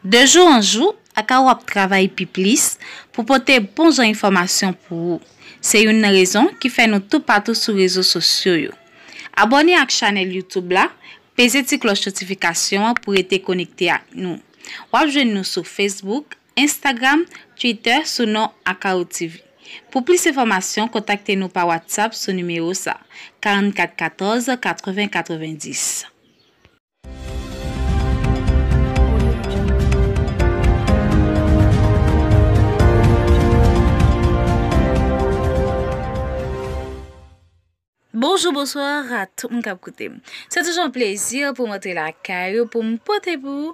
De jou an jou, Akawo ap travay pi plis pou pote bon jan enfòmasyon pou ou. Se youn nan rezon ki fè nou toupatou sou rezo sosyo yo. Abòne ak chanèl YouTube la, peze ti klòch notifikasyon an pou rete konekte ak nou. W ap jwenn nou sou Facebook, Instagram, Twitter sou non AkawoTv. Pou plis enfòmasyon kontakte nou pa WhatsApp sou nimewo sa, 44 14 80 90. Bonjou bonsoir a tout moun kap koutem se toujou yon plezi poum antre lakay ou poum pote pou ou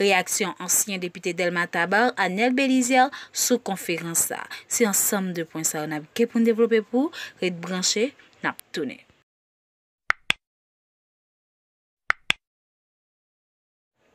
Reyaksyon ansyen depite Dèlma Tabar, Anel Belizaire sou konferans sa. Se ansanm de pwen sa yo n ap gen pou n devlope pou ou, ret branche, n ap tounen.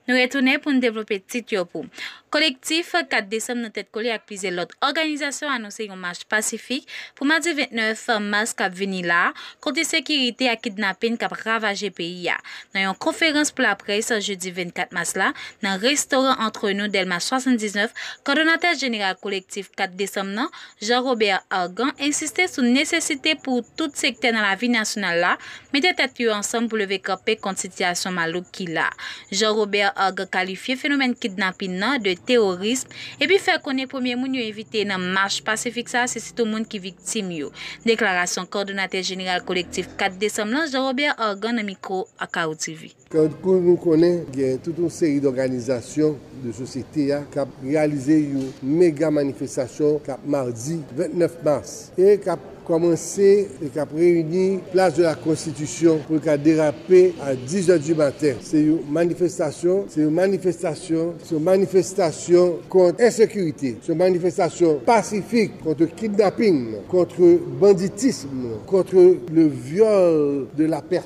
Nou retounen pou n devlope tit yo pou. Kolektif 4 desanm nan tèt kole ak plizyè lòt òganizasyon anonse yon mach pasifik pou madi 29 mas k ap vini la kont ensekirite ak kidnapin k ap ravaje peyi a. Nan yon konferans pou laprès jedi 24 mas la, nan restoran Entre Nous, Dèlma 79, kòdonatè jeneral Kolektif 4 desanm nan, Jean Robert Argan, ensiste sou nesesite pou tout sektè nan lavi nasyonal la mete tèt yo ansanm pou leve kanpe kont sitiyasyon malouk ki la. Jean Robert Argan kalifye fenomèn kidnapin nan de teworism. epi fè konnen premye moun yo envite nan mach pasifik sa a se sitou moun ki viktim yo, deklarasyon kòdonatè jeneral Kolektif 4 desanm lan Jean Robert Argan nan mikwo Akao TV. Tankou nou konnen gen tout yon seri dòganizasyon de sosyete a k ap reyalize yon mega manifestasyon k ap madi 29 mas e k ap. kòmanse li k ap reyini plas de la konstitisyon pou l ka derape a 10 zè di maten se yon manifestasyon se yon manifestasyon se yon manifestasyon kont ensekirite se yon manifestasyon pasifik kontre kidnaping kontre banditism kontre le vyòl de la pèsòn.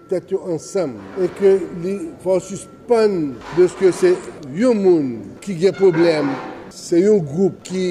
tèt yo ansanm e ke li fè w sispann de ske se yon moun ki gen pwoblèm, se yon gwoup ki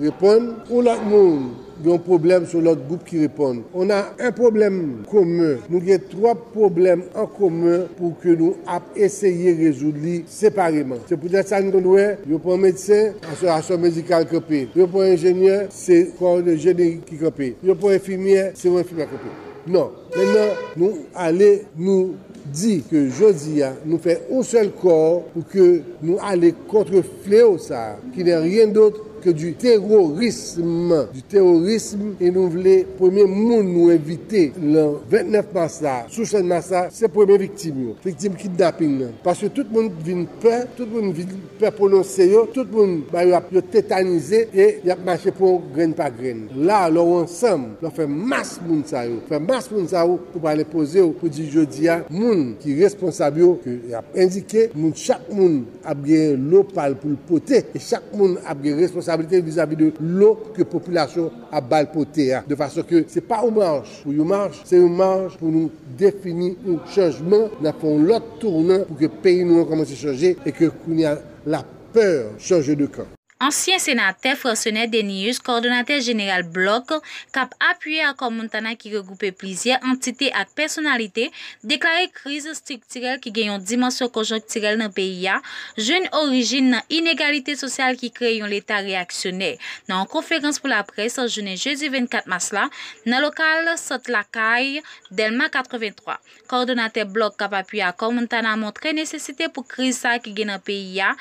reponn, yon lòt moun gen yon pwoblèm se yon lòt gwoup ki reponn, on a un problème commun, nou gen twòp pwoblèm an komen pou ke nou ap eseye rezoud li separeman. Se poutèt sa nou konn wè yo pran medsen, asosasyon medikal kanpe, yo pran enjenyè, se kò de jeni ki kanpe, yo pran enfimyè, se yon enfimyè kanpe. Non. Mennan nou ale nou di ke jodi a nou fè yon sèl kò pou ke nou ale kontre fleo sa a ki nè ryen dot ke di terorism, di terorism e nou vle premye moun nou envite lan 29 mas la sou sèn mas la se premye viktim yo, viktim kidnaping nan paske tout moun vin pè, tout moun vin. Pè pwononse yo, tout moun ba yo ap yo tetanize e y ap mache pou w grenn pa grenn. La a, lè w ansanm, lè w fè mas moun sa yo, fè mas moun sa yo, ou pral enpoze w pou di jodi a, moun ki responsab yo, ke y ap endike, moun chak moun ap genyen lo pa l pou l pote e chak moun ap gen responsablite vizavi de lo ke popilasyon ap ba l pote a, de fason ke se pa ou mwen a. Pou yon mach, se yon mach pou nou defini yon chanjman, n ap fè yon lòt tounan pou ke peyi nou an kòmanse chanje e ke kounye a la pè chanje de kan. Ansyen senatè Francenet Denius, kòdonatè jeneral blòk k ap apiye Akò Montana ki regwoupe plizyè antite ak pèsonalite, deklare kriz estriktirèl ki gen yon dimansyon konjonktirèl nan peyi a, jwenn orijin nan inegalite sosyal ki kreye yon Leta reyaksyonè. Nan yon konferans pou laprès jounen jedi 24 mas la, Nan lokal Sant Lakay, Dèlma 83, kòdonatè blòk Kap Api Akò Montana montre nesesite pou kriz sa ki gen nan peyi a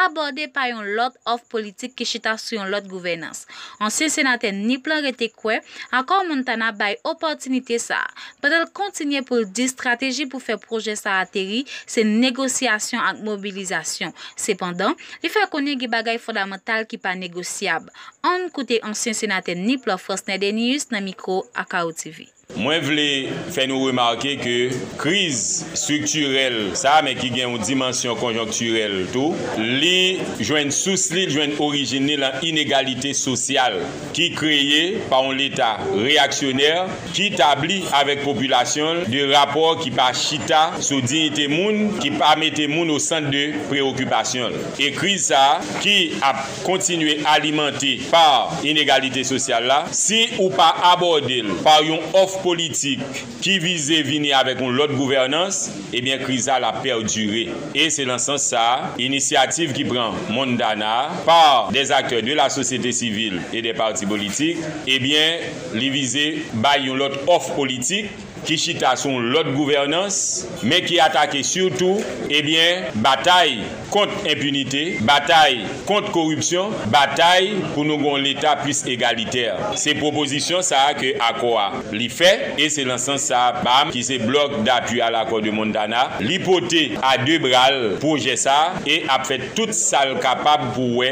abòde pa yon lòt òf politik ki chita sou yon lòt gouvènans. Ansyen senatè Nip lan rete kwè Akò Montana bay opòtinite sa a, pandan l kontinye pou l di strateji pou fè pwojè sa ateri se negosyasyon ak mobilizasyon. Sepandan, li fè konnen gen bagay fondamantal ki pa negosyab. Ann koute ansyen senatè Nip la Frasnè Denius nan mikwo Akao TV. Mwen vle fè nou remake ke kriz striktirèl sa a men ki gen yon dimansyon konjonktirèl tou, li jwenn sous li, li jwenn orijin li lan inegalite sosyal ki kreye pa yon leta reyaksyonè ki tabli avèk popilasyon l de rapò ki pa chita sou diyite moun, ki pa mete moun osant de prewokipasyon l. E kriz sa a ki ap. kontinye alimante pa inegalite sosyal la si ou pa abòde l pa yon òf politik ki vize vini avèk yon lòt gouvènans, ebyen kriz la la pèdire. E se lan sans sa a, inisyativ ki pran Mondana a pa dè zaktè de la sosyete sivil e dè pati politik, ebyen li vize bay yon lòt òf politik, ki chita sou yon lòt gouvènans, men ki atake sitou, ebyen, batay kont enpinite, batay kont koripsyon, batay pou nou gen yon Leta plis egalitè. Se pwopozisyon sa a ke akò a li fè, e se lan sans sa a BAM, ki se Bloc d'Appui à l'Accord de Montana, li pote a de bra l pwojè sa a e ap fè tout sa l kapab pou wè,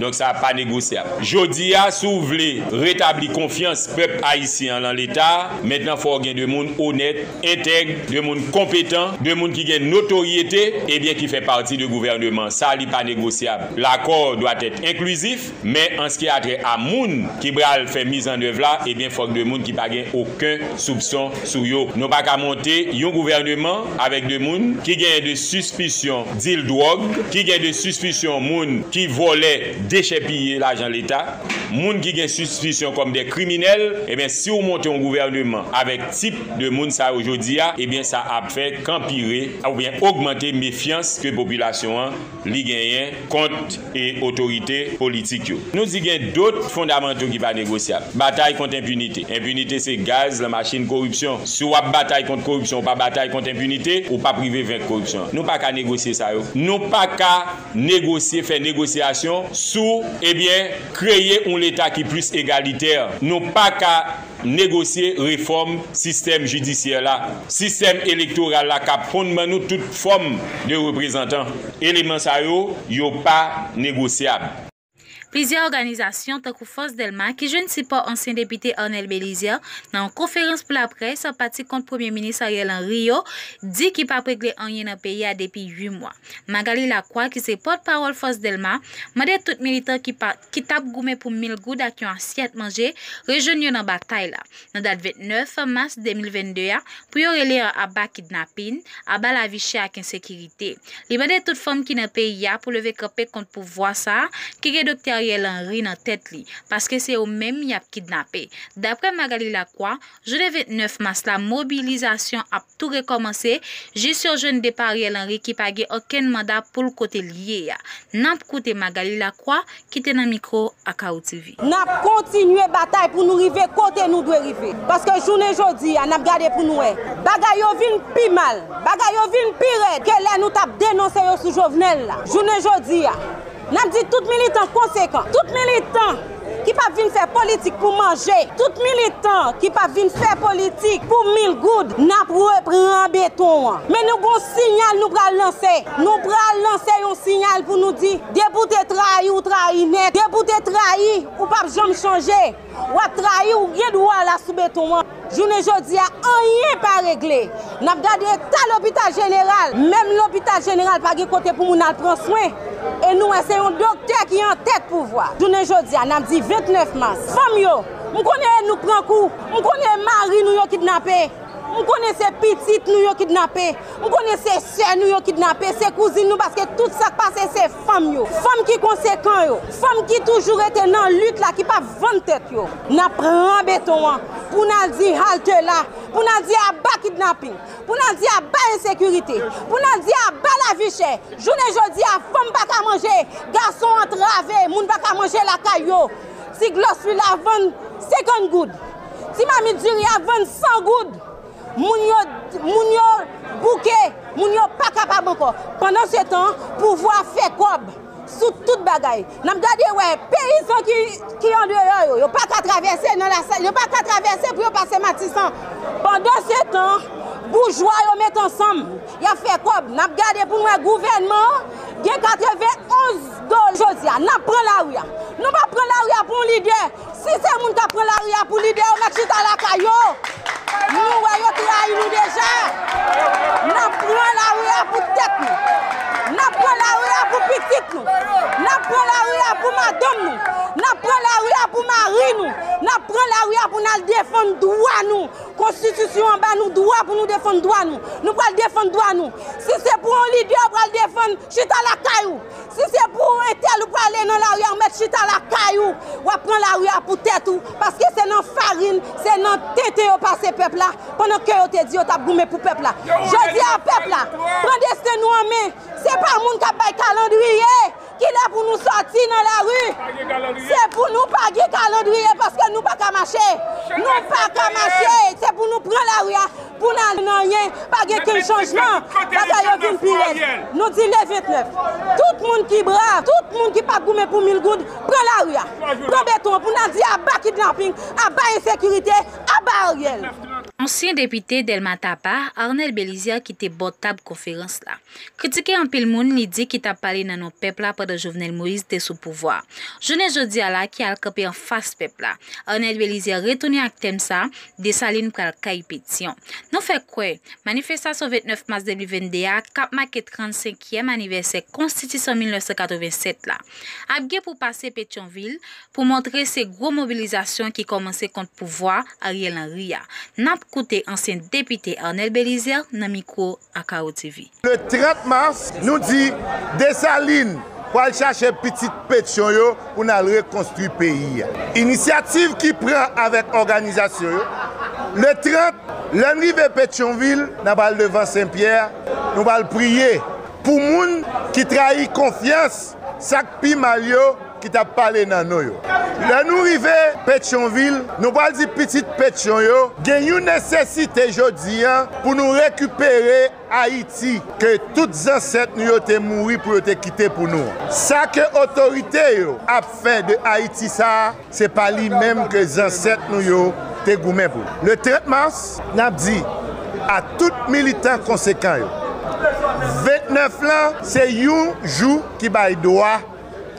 Donk sa pa negosyab. Jodi a, si w vle retabli konfyans pèp ayisyen an lan Leta a, mentnan fò w gen 2 moun onèt, entèg, 2 moun konpetan, 2 moun ki gen notoryete, ebyen ki fè pati de gouvèneman sa a, li pa negosyab. Lakò doit être inclusif, men an ski a trè a moun ki pral fè mizannèv la, ebyen fòk 2 moun ki pa gen oken soupson sou yo. Nou pa ka monte yon gouvèneman avèk 2 moun ki genyen 2 sispisyon dil dwòg, ki gen 2 sispisyon moun ki vòlè, dechèpiye lajan leta, moun ki gen sispisyon kòm dè kriminèl, ebyen si ou monte yon gouvèneman avèk tip de moun sa yo jodi a, ebyen sa ap fè kanpire oubyen ogmante mefyans ke popilasyon an li genyen kont e otorite politik yo. Nou di gen dot fondamanto ki pa negosyab. Batay kont enpinite. Enpinite se gaz lan machin koripsyon. Si w ap batay kont koripsyon, ou pa batay kont enpinite, ou p ap rive venk koripsyon an. Nou pa ka negosye sa yo. Nou pa ka negosye, fè negosyasyon sou, ebyen, kreye yon leta ki plis egalitè. Nou pa ka negosye refòm sistèm jidisyè la, sistèm elektoral la kap konn ban nou tout fòm de reprezantan. Eleman sa yo, yo pa negosyab. Plizyè òganizasyon tankou Fòs Dèlma ki jwenn sipò ansyen depite Arnel Belizaire nan yon konferans pou laprès pati kont premye minis Ariel Henry yo di ki pap regle anyen nan peyi a depi 8 mwa. Magalie Lacroix ki se pòt pawòl Fòs Dèlma mande tout militan ki pa ki t ap goumen pou mil goud ak yon asyèt manje, rejwenn yo nan batay la, nan dat 29 mas 2022 a, pou yo rele an aba kidnapin, aba lavi chè ak ensekirite. Li mande tout fanm ki nan peyi a pou leve kanpe kont pouvwa sa a ki gen Doktè Ariel Henry nan tèt li, paske se yo menm y ap kidnape. Daprè Magalie Lacroix, Jounen 29 mas la mobilizasyon ap tou rekòmanse jis yo jwenn depa Ariel Henry ki pa gen okenn manda pou l kote l ye a. N ap koute Magalie Lacroix ki te nan mikwo Akao TV. N ap kontinye batay pou nou rive kote nou dwe rive. Paske jounen jodi a n ap gade pou nou wè. Bagay yo vin pi mal, bagay yo vin pi rèd ke lè nou t ap denonse yo sou Jovenel la. Jounen jodi a n ap di tout militan konsekan, tout militan. Ki pap vin fè politik pou manje. Tout militan ki pap vin fè politik pou mil goud nap repran beton an. Men nou gon sinyal nou pral lanse. Nou pral lanse yon sinyal pou nou di depi w te trayi ou trayi nèt. Depi w te trayi ou pap janm chanje. Wap trayi ou gen dwa la sou beton an. Jounen jodi a anyen pa regle. N ap gade eta lopital jeneral. Menm lopital jeneral pa gen kote pou moun al pran swen. E nou wè se yon doktè ki an tèt pouvwa. Jounen jodi a n ap di 29 mas. Fanm yo, m konnen e nou k pran kou. M konnen e mari nou yo kidnape. M konnen se pitit nou yo kidnape. M konnen se sè nou yo kidnape, se kouzin nou paske tout sa k pase se. Fanm yo, fanm ki konsekan yo, fanm ki toujou rete nan lit la, ki pa vann tèt yo. N ap pran beton an pou n al di halte la, pou n al di aba kidnaping, pou n al di aba ensekirite, pou n al di aba lavi chè. Jounen jodi a, fanm pa ka manje, gason antrave, moun pa ka manje lakay yo. Ti glòs lwil ap vann 50 goud, ti mamit diri ap vann 100 goud. Moun yo moun yo bouke, moun yo pa kapab ankò. Pandan se tan, pouvwa fè kòb sou tout bagay. N ap gade wè peyizan ki andeyò yo, yo pa ka travèse nan Lasal, yo pa ka travèse pou yo pase Matisan. Pandan se tan, boujwa yo met ansanm, y ap fè kòb. N ap gade pou n wè gouvènman an gen 91 dola. Jodi a, n ap pran lari a. Nou pa pran lari a pou yon lidè. Si se moun kap pran lari a pou lidè yo met chita lakay yo nou wè yo trayi nou deja nap pran lari a pou tèt nou nap pran lari a pou pitit nou nap pran lari a pou madanm nou nap pran lari a pou mari nou nap pran lari a pou nal defann dwa nou konstitisyon an ba nou dwa pou nou defann dwa nou nou pral defann dwa nou si se pou yon lidè ou pral defann chita lakay ou. Si se pou ou entèl ou prale nan lari a ou mèt chita lakay ou, wap pran lari a pou tèt ou, paske se nan farin, se nan tenten yo pase pèp la, pandan ke yo te di yo tap goumen pou pèp la. Jodi a pèp la, pran desten nou an men, se pa moun kap bay kalandriye, ki lè pou nou sòti nan lari, se pou nou pa gen kalandriye paske nou paka mache, nou paka mache, se pou nou pran lari a. Pou n al nan anyen, pa gen kenn chanjman, bagay yo vin pi rèd. Nou di le 29, tout moun ki brav, tout moun ki pa goumen pou mil goud, pran lari a, pran beton an pou n al di aba kidnaping, aba ensekirite, aba Ariel. Ansyen depite Dèlma Tapa, Arnel Belizaire kite bò tab konferans la. Kritike anpil moun li di ki t ap pale nan non pèp la pandan Jovenel Moïse te sou pouvwa a. Jounen jodi a la ki al kanpe anfas pèp la, Arnel Belizaire retounen ak tèm sa Desalin pral kay Petyon. Nou fè kwè, manifestasyon 29 mas 2022 a, k ap make 35 kièm anivèsè konstitisyon 1987 la, ap gen pou pase Petyonvil pou montre se gwo mobilizasyon ki kòmanse kont pouvwa Ariel Henry a. N ap koute ansyen depite Arnel Belizaire nan mikwo Akao TV. Le 30 mars, nou di Desalin pwal chache pitit Petyon yo pou nal rekonstwi peyi a. Inisyativ ki pran avèk òganizasyon yo. Le 30, lèn rive Petyonvil, nan pral devan Sen Pyè, nou pral priye pou moun ki trayi konfyans Sa k pi mal yo ki t ap pale nan nou yo. Lè nou rive Petyonvil, nou pral di pitit Petyon yo gen yon nesesite jodi a pou nou rekipere Ayiti ke tout zansèt nou yo te mouri pou yo te kite pou nou an. Sa ke otorite yo ap fè de Ayiti sa a, Se pa li menm ke zansèt nou yo te goumen pou. Le 30 mars, n ap di a tout militan konsekan yo, 29 lan se yon jou ki bay dwa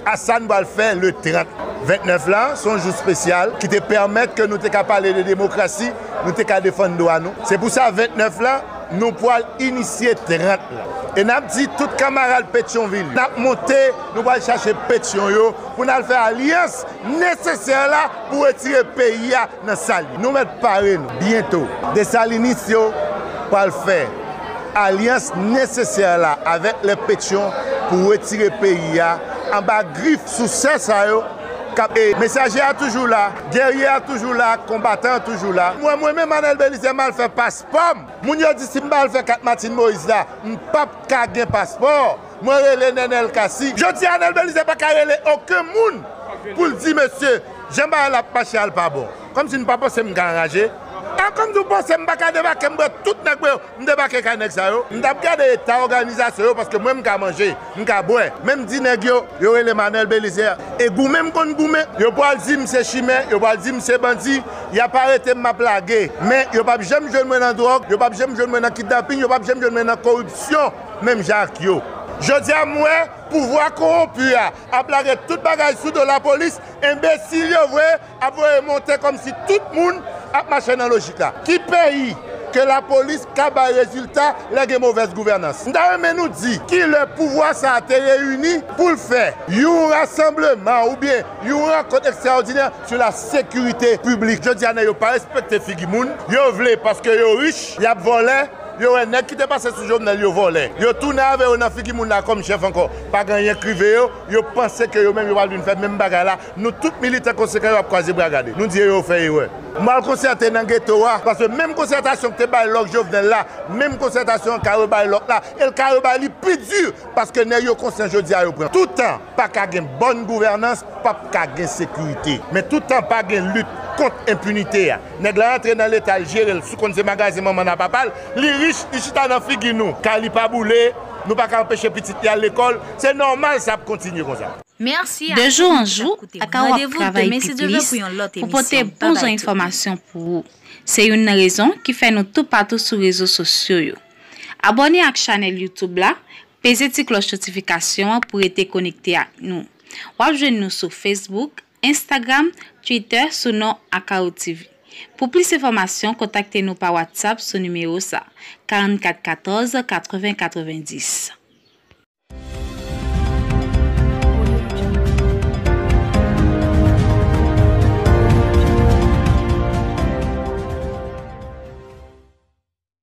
a sa n pral fè le 30. 29 lan se yon jou spesyal ki te pèmèt ke nou te ka pale de demokrasi, nou te ka defann dwa nou. Se pou sa 29 lan nou pral inisye 30 lan. E n ap di tout kamarad Petyonvil yo, n ap monte. Nou pral chache Petyon yo pou n al fè alyans nesesè la pou retire peyi a nan sa l ye. Nou mèt pare nou. Byento, Desalinis yo pral fè alyans nesesè la avèk lè Petyon pou retire peyi a anba grif sousè sa yo k ap. E mesaje a toujou la, gèrye a toujou la, konbatan an toujou la. Mwen mwen menm Anèl Belizè m al fè paspò m. Moun yo di si m pa al fè kat Matin Moyiz la, m p ap ka gen paspò. Mwen rele Nenel Cassy. Jodi a Nel Belizaire pa ka rele oken moun pou l di mesye jan bagay la ap mache a l pa bon. Kòm si nou pa panse m ka anraje. A kòm si w panse m pa ka debake m pran tout nèg mwen yo m debake kay nèg sa yo. M tap gade eta òganizasyon yo paske mwen m ka manje, m ka bwè. Men m di nèg yo, yo rele m a Nel Belizaire e goumen m konn goumen. Yo pral di m se chimè, yo pral di m se bandi. Y ap arete m m ap lage. Men yo pap janm jwenn mwen nan dwòg, yo pap janm jwenn mwen nan kidnaping, yo pap janm jwenn mwen nan koripsyon. Menm jan ak yo. Jodi a m wè pouvwa konwonpi a ap lage tout bagay sou do lapolis, enbesil yo vre ap voye monte kòmsi tout moun ap mache nan lojik la. Ki peyi ke lapolis ka bay rezilta lè gen movèz gouvènans? M ta renmen nou di ki lè pouvwa sa a te reyini pou l fè yon rasanbleman oubyen yon rankont ekstraòdinè sou lasekirite piblik. Jodi a nèg yo pa respekte figi moun, yo vle paske yo rich y ap vòlè, Yo wè nèg kite pase sou jovenel yo vòlè yo tounen avè yo nan figi moun la kòm chèf ankò pagen anyen k rive yo yo panse ke yo menm yo pral vin fè menm bagay la nou tout militan konsekan yo ap kwaze bra gade nou di yo yo fè erè nou al konsète nan geto a paske menm konsètasyon k te bay lòk jovenel la menm konsètasyon an ka rebay lòk la el ka rebay li pi di paske nèg yo konsyan jodi a yo pran toutan paka gen bòn gouvènans. Pap ka gen sekirite. Men tout tan pa gen lit kont enpinite a. Nèg la antre nan leta l jere l sou konn se magazen manman l a papa l. Li rich, li chita nan figi nou. Kay li pa boule, nou pa ka anpeche pitit li al lekòl. Se nòmal sa ap kontinye konsa. De jou an jou, Akawo ap travay pi plis pou pote bon jan enfòmasyon pou ou. Se youn nan rezon ki fè nou toupatou sou rezo sosyo yo. Abòne ak chanèl YouTube la Peze ti klòch notifikasyon an pou rete konekte ak nou. Wap jwenn nou sou Facebook, Instagram, Twitter sou non Akao TV. Pou plis enfòmasyon kontakte nou pa WhatsApp sou nimewo sa, 44 14 80 90.